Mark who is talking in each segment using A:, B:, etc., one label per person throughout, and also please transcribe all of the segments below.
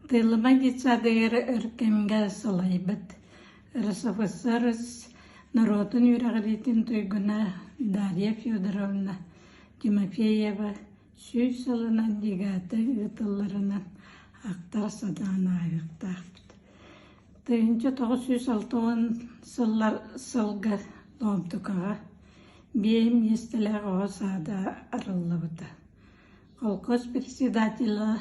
A: Тыылымай детсадыгар өр кэмҥэ салайбыт РСФСР норуотун үөрэҕириитин туйгуна Дарья Федоровна Тимофеева сүүс сылынан ЛИГАТА ыытылларынан ахтар-сатаан ааһыахтаахпыт. Тыһыынча тоҕус сүүс алта уон сыллар сылга Лоомтукаҕа биэйэ миэстэлээх оҕо саада арыллыбыта Холкуос председателэ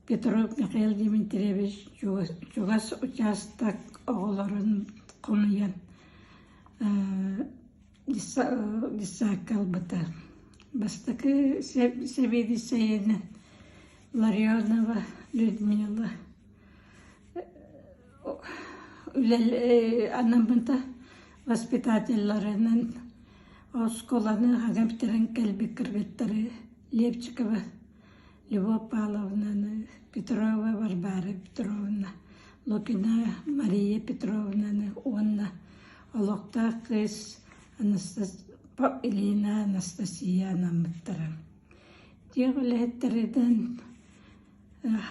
A: Петров Михаил Дмитриевич чугас учаастак оҕолорун хомуйан десантка ылбыта. Бастакы сэбиэдиссэйинэн Ларионова Людмила анаммыта воспитателларынан оскуоланы ага бүтэрэн кэлбит кыргыттары Лепчикова Любовь Павловнаны Петрова Варвара Петровна Лукина Мария Петровнаны уонна олохтоох кыыс Илина Анастасия анаммыттара. Дьиэ үлэһиттэринэн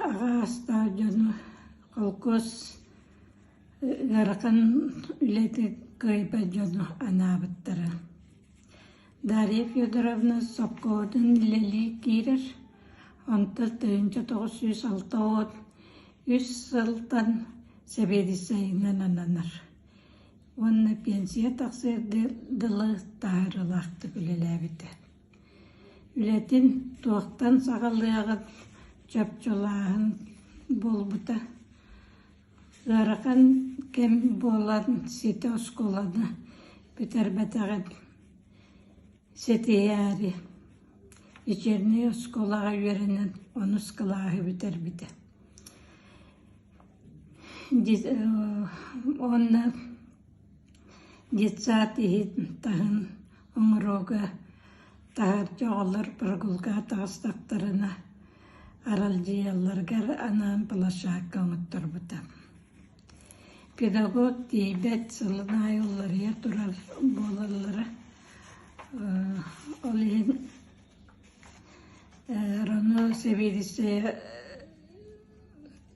A: Аҕаастаах дьону холкуос ыарахан үлэти кыайбат дьону анаабыттара. Дарья Федоровна сопхуоһутун үлэлии киирэр, онтон тыһыынча тоҕус сүүс алта уон үс сылтан сэбиэдиссэйинэн ананар. Уонна пенсия тахсыардыы дылы таһаарыылаахтык үлэлээбитэ Үлэтин туохтан саҕалыаҕын чопчулааһын буолбута ыарахан кэм буолан ситэ оскуоланы бүтэрбэтэҕин ситиһээри вечернэй оскуолаҕа үөрэнэн онус кылааһы бүтэрбитэ уонна Детсад иһит таһын оҥорууга таһырдьа оҕолор прогулка таҕыстахтарына аралдьыйалларыгар анаан площадка оҥотторбута. Педагог тиийбэт сылын аайы уларыйа турар буолаллара ол иһин Роно Савелисея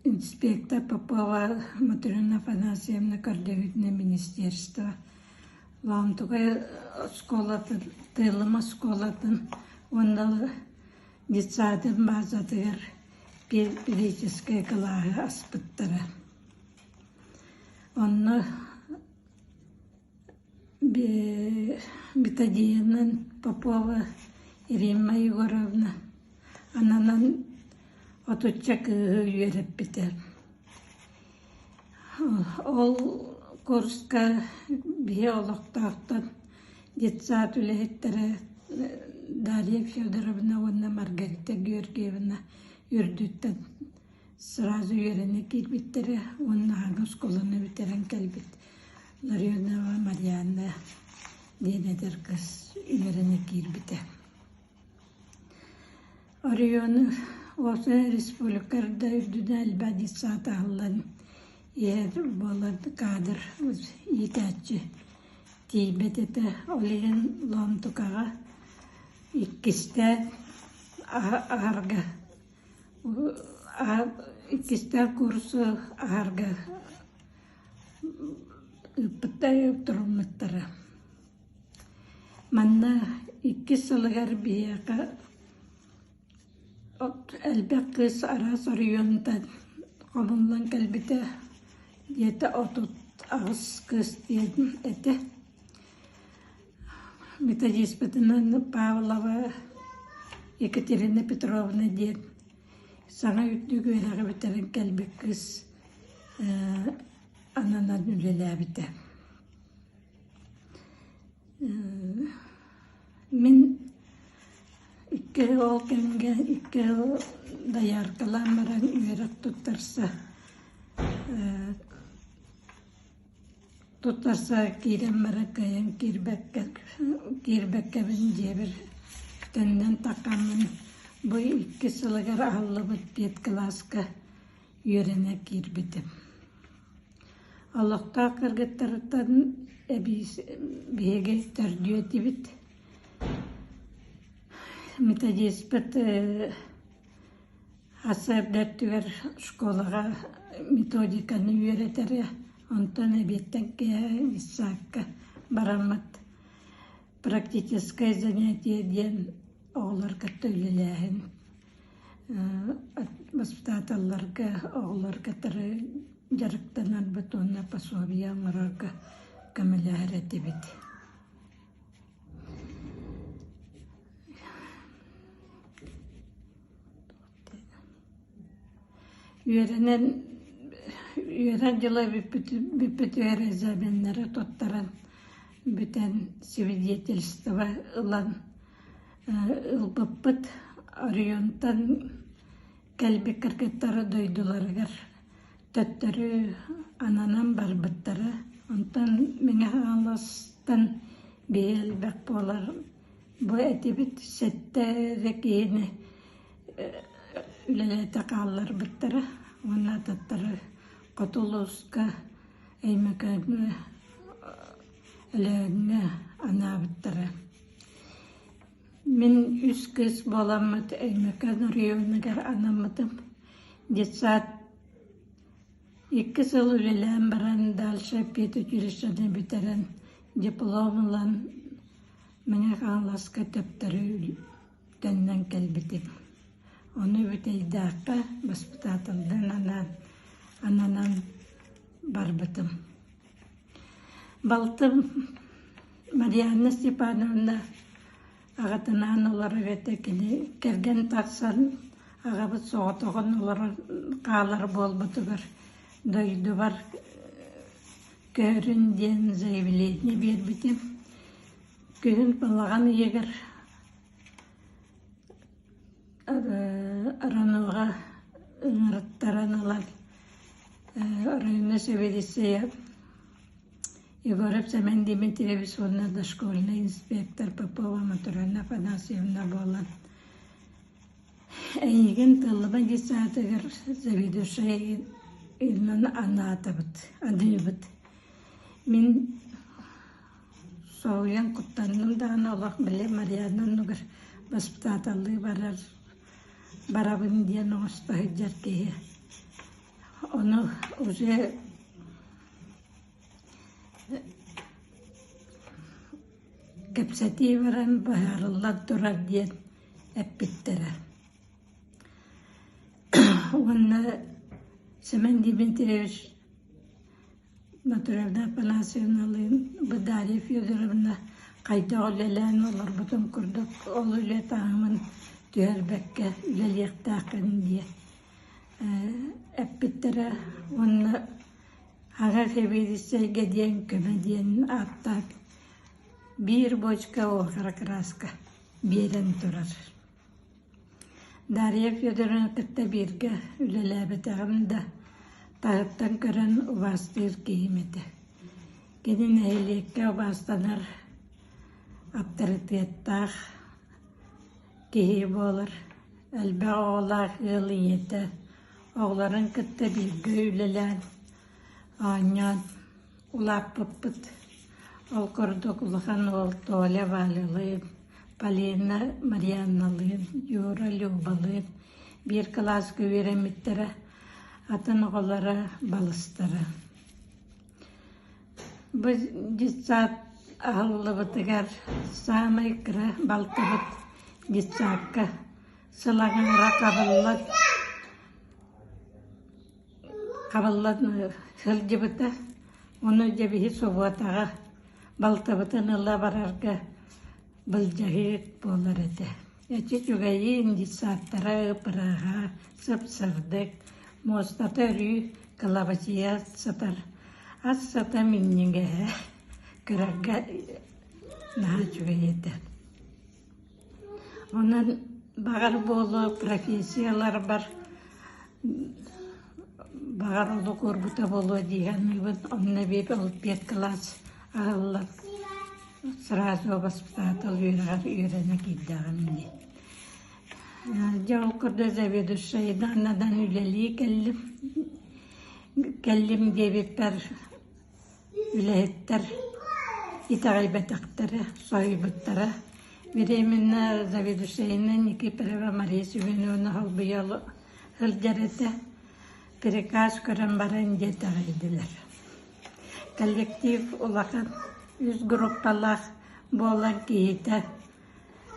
A: Инспектор Попова Мотрена Афанасьевна Кордевитина министерство Лаантукай оскуолатын, Тыылым оскуолатын уонна детсадын баазатыгар педагогическай кылааһы аспыттара. Онно бетадинын Попова Ирина Егоровна ананан отучча кыыһы үөрэппитэ ол курска биһи олохтоохтон детсад үлэһиттэрэ Дарья Федоровна уонна Маргарита Георгиевна үрдүттэн сразу үөрэнэ киирбиттэрэ уонна аһаҕас оскуоланы бүтэрэн кэлбит Ларионова Марианна диэн эдэр кыз үөрэнэ киирбитэ. Оройуону Ота республика да үрдүнэ элбэх детсад аһыллан иһэ буолар каадыр иитээччи тиийбэт этэ. Ол иһин Лоомтукаҕа иккистээн аһарга иккистээн курсу аһарга ыыппыттар туруммуттара. Манна иккис сылыгар биһиэхэ от элбэх кыыс араас оройуонтан хомуллан кэлбитэ диэтэ отут аҕыс кыыс диэн этэ. методиспытынан Павлова Екатерина Петровна диэн Саҥа үрдүк үөрэҕи бүтэрэн кэлбит кыыс ээ ананан үлэлээбитэ. Ээ мин икки оҕо кэмгэ икки оҕо дояркалаан баран үөрэх туттарса ээ Туттарса киирэн баран кыайан киирбэккэбин дьиэбэр төннөн таккаммын бу иккис сылыгар аһыллыбыт тиэт кылааска үөрэнэ киирбитим. Олохтоох кыргыттарыттан биһиги төрдүө этибит. Методиспыт Аса эрдэ өттүгэр оскуолаҕа методиканы үөрэтэрэ, онтон эбиэттэн киэһэ ИСАК-ка бараммыт. Практическое занятие диэн оҕолор кытта үлэлээһин. Воспитателларга оҕолор кытары дьарыктанарбыт уонна пособие оҥорорго көмөлөһөр этибит. Үөрэнэн үөрэн дьыла бүппүт бүппүт экзаменнары туттаран бүтэн свидетельство ылан ылбыппыт оройуонтан Кэлбит кыргыттары дойдуларыгар төттөрү ананан барбыттара, онтон Мэҥэхааластан биһи элбэх буолар бу этибит сэттэ эрэ киһини үлэлээтэ хаалларбыттара уонна ататтары Хоту улууска Өймөкөөҥҥө, Өлөөҥҥө анаабыттара Мин үс кыыс буоламмыт Өймөкөөн оройуонугар анаммытым. Детсад икки сыл үлэлээн баран дальше педучилищены бүтэрэн диплом ылан Мэҥэ Хаҥаласка төптөрү төннөн кэлбитим. Ону Бүтэйдээххэ баспытааталдан анаан ананан барбытым Балтым Марианна Степановна аҕатынаан олорор эбэтэ кини кэргэн тахсан аҕабыт соҕотоҕун олорон хаалар буолбутугар дойдубар көһөрүн диэн заявление биэрбитим. Күһүн балаҕан ыйыгар Араныга ыҥырыттаран ылан Оройуонна сэбиэдиссэйэ Егоров Семен Дмитриевич уонна дошкольнай инспектор Попова Мотуровна Афанасьевна буолан эйигин тыллыбан десятыгар заведующай иннин анаатыбыт адыйбыт мин Соһуйан куттанным даҕаны олох били Марианна оннугар госпитальдыы барар барабын диэн оҥосто сылдьар киһи ону уже кэпсэтии баран быһаарыллан турар диэн эппиттэрэ уонна Семен Дмитриевич Батыровна Афанасьевналыын Дарья Федоровна хайдах үлэлээн олорбутун курдук ол үлэ таһымын түһэрбэккэ үлэлиэхтээххин диэ эппиттэрэ уонна аҕа сэбиэдиссэйгэ диэн көмө диэн ааттаах биир бочка уокара краска биэрэн турар Дарья Федоровна кытта бииргэ үлэлээбэтэҕим да, таһыттан көрөн убаастыыр киһим этэ. Кини нэһилиэккэ убаастанар, авторитеттаах киһи буолар, элбэх оҕолоох ыал ийэтэ, оҕолорун кытта бииргэ үлэлээн, оонньоон, Улааппыппыт. Ол курдук улахан уол Толя Валялыын, Полина Марианналыын, Юра Любалыын биир кылааска үөрэммиттэрэ, атын оҕолоро, балыстара. Бу детсад аһыллыбытыгар саамай кыра балтыбыт детсадка сыл аҥаара хабыллан Хабыллан сылдьыбыта, ону дьэбиһи собуотаҕа, балтыбытын ыла барарга былдьаһыыт буолар этэ эти чугэйиин детсадтара ыпырааһа сып-сырдык муостата өрүү кылабачыйа сытар ас сата минньигэһэ кырарга наһаа үчүгэй этэ Онон баҕар буолуо профессияларбар баҕар олох уорбута буолуо дии саныыбын. Онно эбиэт олимпиад кылаас аһыллан сразу баспытаатал үөрэҕэр үөрэнэ киирдэҕим ини. Дьэ ол курдук заведующайдаан надан үлэлии кэллим. Кэллим диэбиппэр Үлэһиттэр итэҕэйбэтэхтэрэ, соһуйбуттара. Беременна заведующайына Никифорова Мария Семеновна холбуйа сылдьар этэ. Приказ көрөн баран дьэ итэҕэйдилэр. Коллектив улахан, үс группалаах буолан киһитэ,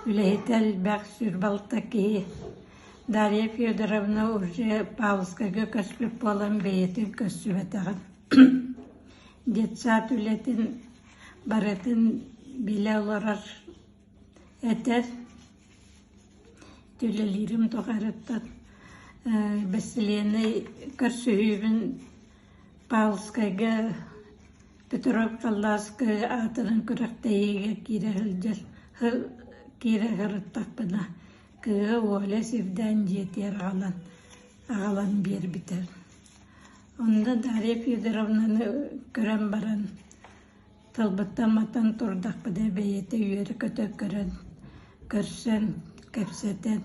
A: үлэһитэ элбэх, сүр балта киһи. Дарья Федоровна уже Павловскайга көспүт буолан бэйэтин көссүбэтэҕин Детсад үлэтин барытын билэ олорор этэр. Үлэлиирим тухайыттан бэссилиэннэй көрсүһүүбүн Павловскайга Петров Калласкай аатынан күрэхтэһиигэ киирэ сылдьар киирэ сырыттахпына кыыһа Оля сирдээн дьиэтигэр аҕалан аҕалан биэрбитэ Онно Дарья Федоровнаны көрөн баран, тылбыттан матан турдахпына бэйэтэ үөрэ-көтө көрөн, көрсөн, кэпсэтэн,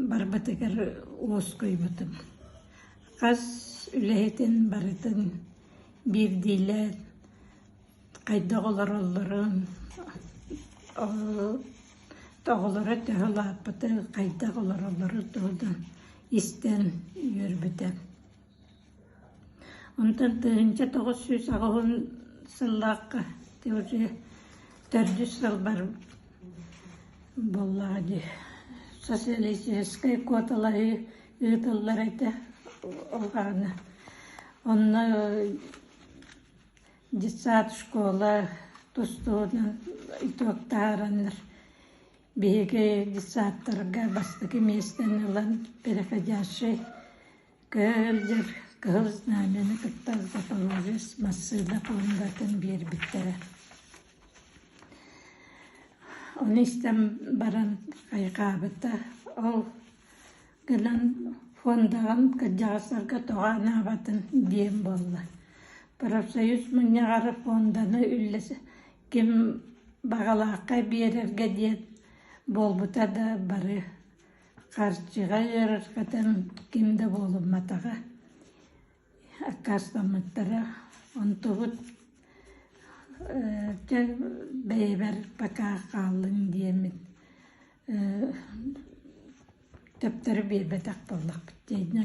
A: барбытыгар уоскуйбутум. Хас үлэһитин барытын биирдиилээн хайдах олороллорун, оҕолоро төһө улааппыты, хайдах олороллорун туһунан истэн үөрбүтэ. Онтон тыһыынча тоҕус сүүс аҕыһын сыллаахха уже төрдүс сылбар буоллаҕа дии социалистическай куоталайы ыытыллар этэ ол гаана онно детсад школа тустууну итоктаараннар биһиги детсадтарга бастакы миэстэни ылан переходящий кыылдьар кыһыл знамяны кытта запорожец массыына пуондатын биэрбиттэрэ ону истэн баран хайҕаабыта ол гынан фондаҕын кырдьаҕастарга тоҕо анаабатын диэм буолла профсоюз мунньаҕары фонданы үллэ ким баҕалаахха биэрэргэ диэн буолбута да бары харчыга ыарырҕатан ким да буолумматаҕа аккаастаммыттара онтубут чэ бэйэбэр пока хааллын диэммин Таптары биэрбэтэх буоллахпыт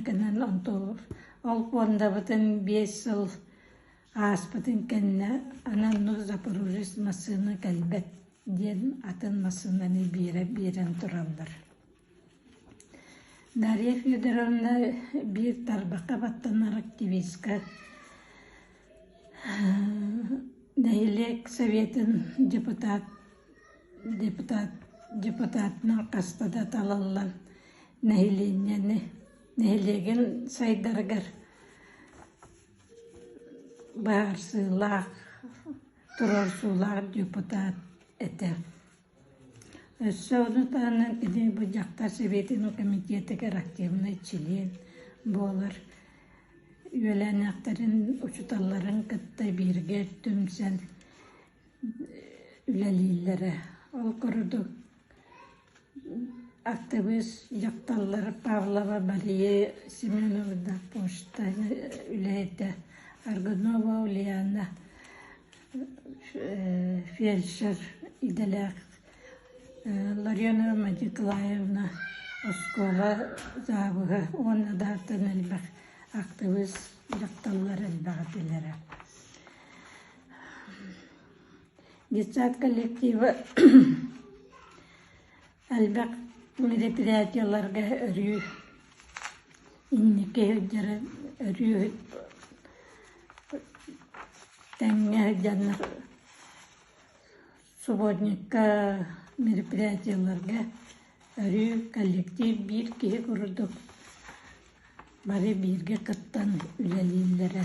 A: гынан онтубут ол пуондабытын биэс сыл ааспытын кэннэ анан ну запорожец массыына кэлбэт диэн атын массыынаны биэрэ биэрэн тураллар дарья федоровна биир тарбаха баттанар активистка нэһилиэк советын депутат Депутат депутатынан хаста да талыллан нэһилиэнньэни нэһилиэгин сайдарыгар баарсыылаах туруорсуулаах депутат этэ. Өссө ону таһынан кини бу дьахтар сэбиэтин комитетигэр активный член буолар үөлээннээхтэрин учуталларын кытта бииргэ түмсэн үлэлииллэрэ. Ол курдук актыбыыс дьахталлар Павлова Мария Семеновна почта үлэһитэ, Аргунова Ульяна фельдшер идэлээх Ларионова Николаевна оскуола заабыһа уонна да атын элбэх актыбыыс дьахталлар элбэх этилэрэ Детсад коллектива элбэх предприятиеларга өрүү инники сылдьары өрүү тэҥҥэ сылдьаннар Субботникка мероприятиеларга өрүү коллектив биир киһи курдук бары бииргэ кыттан үлэлииллэрэ